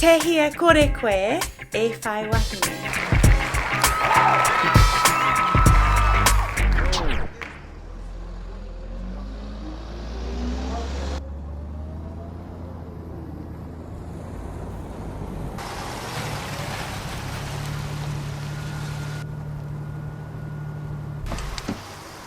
Tehi e kore koe e whai wahine.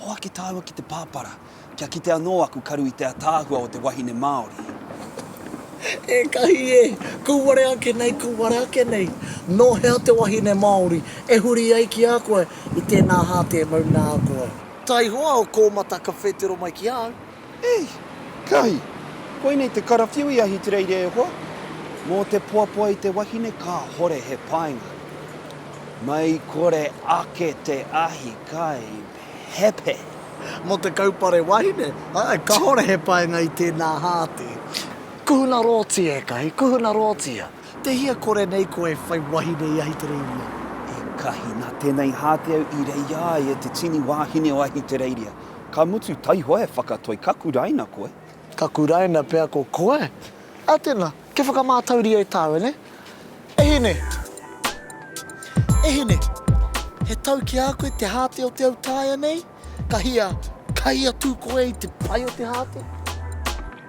Hoaki tāua ki te pāpara, kia kite anō aku karu i te ataahua o te wahine Māori. Ekahi e! Kū ware ake nei, kū ware ake nei! Nō hea te wahine Māori e huri ai ki a koe i tēnā hāteamau nā koe? Taihoa o Kōmata ka whētero mai ki a au. Ei! Kahi! Koinei te karawhiu i Ahitereiria e hoa, mō te poapoa i te wahine kāhore he painga. Mai kore ake te ahi kai pepe! Mō te kaupare wahine, āe, kāhore he painga i tēnā hāte. Kuhuna rōti e Kahi, kuhuna rōti a. Te hia kore nei koe e whai wahine i Ahitereiria? E Kahi, nā tēnei hāte au i reia ai e te tini wāhine o Ahitereiria. Ka mutu taihoa e whakatoi, ka kuraina koe. Ka kuraina pea ko koe. A tena, kia whakamātauria e tāua ne. E hine! E hine! He tau ki a koe te hāte o te au tāia nei? Ka hia, ka hia tū koe i te pai o te hāte?